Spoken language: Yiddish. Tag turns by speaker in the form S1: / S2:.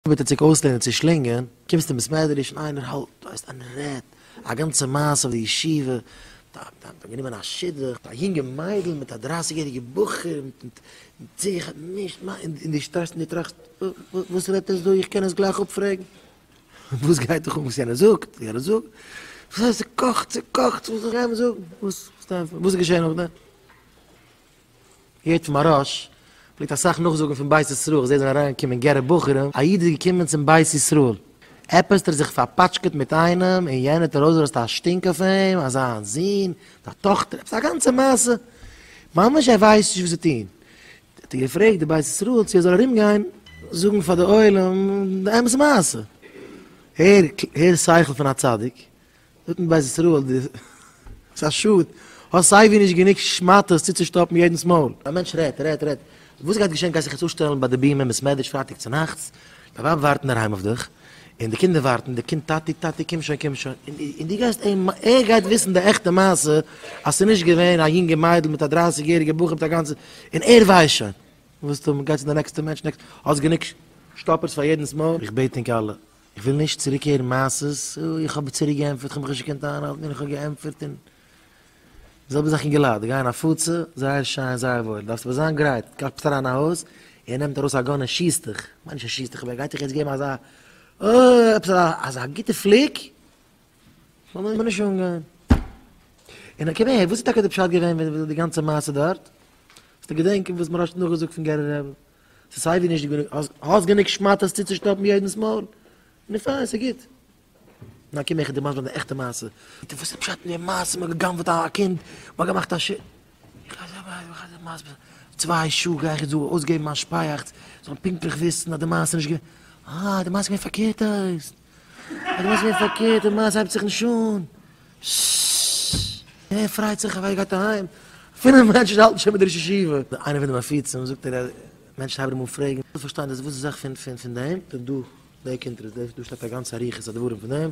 S1: ביטע צוריק אויסלערנען צו שלינגען, קומסט אין בית מדרש און איינער האלט, דו ווייסט איינער רעדט א גאנצע מעשה אויף די ישיבה, מ'האט אים גענומען א שידוך, א יונגע מיידל מיט א דרייסיג יעריגע בחור, מיט זיך, נישט מיין, און דו שטייסט און דו טראכסט, וואס רעדט ער אזוי, איך קען עס גלייך אפפרעגן, וואס גייט דיך אן וואס יענער זאגט, יענער זאגט, וואס הייסט ס'קאכט, ס'קאכט, וואס זאל איך אים זאגן, וואס איז געשען נאכדעם. יעצט מהראש פלעגט אסאך נאכזאגן פון בית ישראל, כ'זעה זענען אריינגעקומען גערע בחורים, א איד איז געקומען צום בית ישראל, עפעס האט ער זיך פארפאטשקעט מיט איינעם און יענער האט ארויסגעלאזט א שטינק אויף אים אז זיין זון האט א טאכטער, עפעס א גאנצע מעשה, ממש ער ווייסט נישט וואס צו טון, האט ער געפרעגט די בית ישראל צו ער זאל ארומגיין זאגן פאר די עולם די אמת מעשה, הער שכל פון א צדיק, זאגט מען בית ישראל די ס'איז א שאד האסט סייווי נישט גענוג שמאטעס צוצושטאפן יעדנס מויל. א מענטש רעדט רעדט רעדט וואס גייט געשען גייסט זיך יעצט אפשטעלן ביי די בימה אין בעסמעדריש פרייטאג צונאכטס דיין ווייב ווארט אינדערהיים אויף דיך און די קינדער ווארטן די קינד טאטי טאטי קום שוין קום שוין און דו גייסט אים ער גייט וויסן די עכטע מעשה אז ס'איז נישט געווען א יונגע מיידל מיט א דרייסיג יעריגע בחור מיט א גאנצע און ער ווייסט שוין וואס טון מ'גייט צו די נעקסטע מענטש נעקסט האסט גענוג שטאפערס פאר יעדנס מויל? איך בעט ענק אלע איך וויל נישט צוריק הערן מעשות, איך האב צוריק געענטפערט, איך האב מיך נישט געקענט איינהאלטן און איך האב געענטפערט און. די זעלבע זאך אין געלאט, די גייען הפצה, זייער שיין, זייער וואויל, דארפסט אבער זיין גרייט, קלאפט אריין אין א הויז, ער נעמט ארויס א גאן און שיסט דיך, מיין נישט ער שיסט דיך אבער ער גייט דיך יעצט געבן אזא אה עפעס אזא גוטע פליק, לאמיר איבער נישט אנגיין. און אקעי וואס איז טאקע די פשט געווען ווען די גאנצע מעשה דארט? האסטו געדענקען וואס מוהראש האט נאכגעזאגט פון גערער רעבע? ס'איז סיי ווי נישט גענוג, האסט גענוג שמאטעס צוצושטאפן יעדנס מויל? נו פיין, ס'איז גוט. נאר קום איך דערמאנט מיר די עכטע מעשה. ביטע וואס איז פשט אין די מעשה מ'האט גע'גנב'ט א קינד, מ'האט געמאכט א ש. צוויי שעה גיי איך יעצט דא אויסגעבן מיין שפייעכץ, זאלן פונקטליך וויסן אז די מעשה איז נישט געווען. אה, די מעשה איז געווען פארקערט אויס. איך ווייס מער פארקערט די מעשה הייבט זיך נישט אן. שוואו. ער פרייט זיך אווי ער גייט אהיים. אפילו מענטשן האלטן שוין מיט די ראש ישיבה. איינער פון די מפיצים זאגט ער אז מענטשן הייבן אים אן פרעגן. איך וויל פארשטיין דאס וואס איז זאך פון פון פון דעם. דא דער קונטרס דא שטייט א גאנצע אריכות הדברים פון דעם.